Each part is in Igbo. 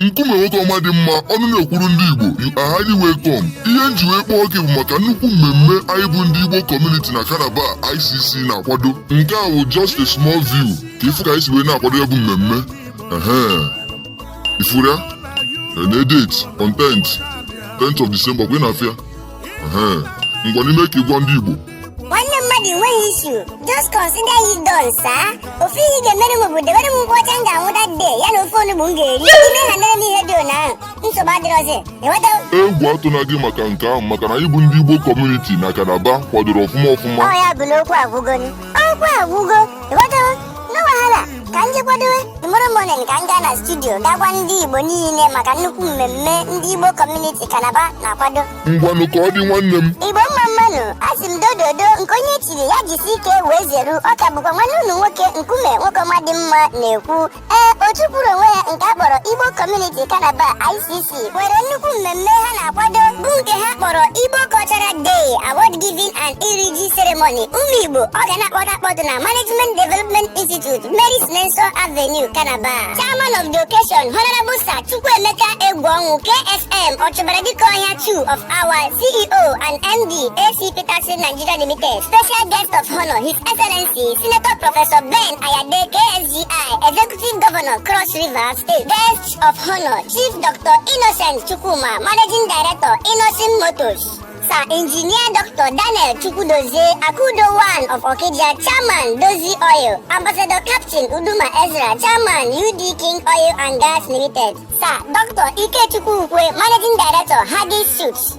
nkume nwoke ọma dị mma ọnụ na-ekwuru ndị Igbo you are highly welcome ihe m ji wee kpọọ gị bụ maka nnukwu mmemme anyị bụ ndị Igbo community na Calabar ICC na-akwado nke a bụ just a small view ka ị fụ ka anyị si wee na-akwado ya bụ mmemme ị fụrụ ya na date on 10th 10th of December kwa ị na-afụ ya Ehe, ngwanụ i mee ka ị gwa ndị Igbo nwanne mmadụ enweghị issue just consider it done sir ofe ihe ị ga-emere m bụ debere m nkwụ ọcha m ga-aṅụ that day ya na ofe onugbu m ga-eri i mehanere m ihe dị otu ahụ nsogbu adịrọzi ị ghọta egwu atụna gị maka nke ahụ maka na anyị bụ ndị Igbo community na Calabar kwadoro ọfụma ọfụma ọ ya bụ na okwu agwụgo nụ okwu agwụgo ị ghọtawo no wahala ka m jee kwadowe tomorrow morning ka m gaa na studio gaa gwa ndị igbo niile maka nnukwu mmemme ndị igbo community Calabar na-akwado ngwanụ ka ọ dị nwanne m igbo mma mma nụ asị m dododo nke onye chiri ya jisi ike wee zeru ọ ka bụkwa nwanne unu nwoke nkume nwoke ọma dị mma na-ekwu Ee, otu kwụụrụ onwe ya nke a kpọrọ Igbo Community Calabar ICC nwere nnukwu mmemme ha na-akwado bụ nke ha kpọrọ Igbo Cultural Day Award Giving and Iriji Ceremony ụmụ Igbo ọ ga na-akpọtụ akpọtụ na Management Development Institute Mary Slessor Avenue Calabar Chairman of the occasion Honorable Sir Chukwuemeka Egwuọnwụ KSM Ọchụbara Dike Ọhịa 2 of Awa CEO and MD AC Peterson Nigeria Limited Special Guest of Honor His Excellency Senator Professor Ben Ayade KSC FGI Executive Governor Cross River State Guest of Honor Chief Dr. Innocent Chukwuma Managing Director Innocent Motors Sir Engineer Dr. Daniel Chukwudozie Akudo One of Okidia Chairman Dozie Oil Ambassador Captain Uduma Ezra Chairman UD King Oil and Gas Limited Sir Dr. Ikechukwu Ukwe Managing Director Hagis Suits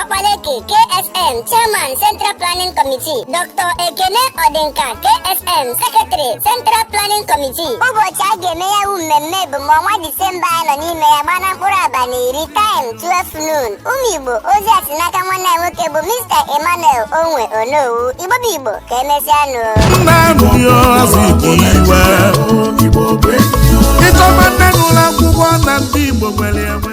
Ọkpaleke KSM Chairman Central Planning Committee Dr. Ekene Ọdịnka KSM Secretary Central Planning Committee ụbọchị a ga-eme ya wu mmemme bụ ma ọnwa Disemba anyị nọ n'ime ya gbaa na mkpụrụ abalị iri time 12 noon ụmụ Igbo ozi a si n'aka nwanne anyị nwoke bụ Mr. Emmanuel Onwe Onowu Igbo bụ Igbo ka emesịa nụ Nnamdi Azikiwe Igbo bụ enyi. ịchọba nne n'ụlọ akwụkwọ na ndị Igbo nwere enwe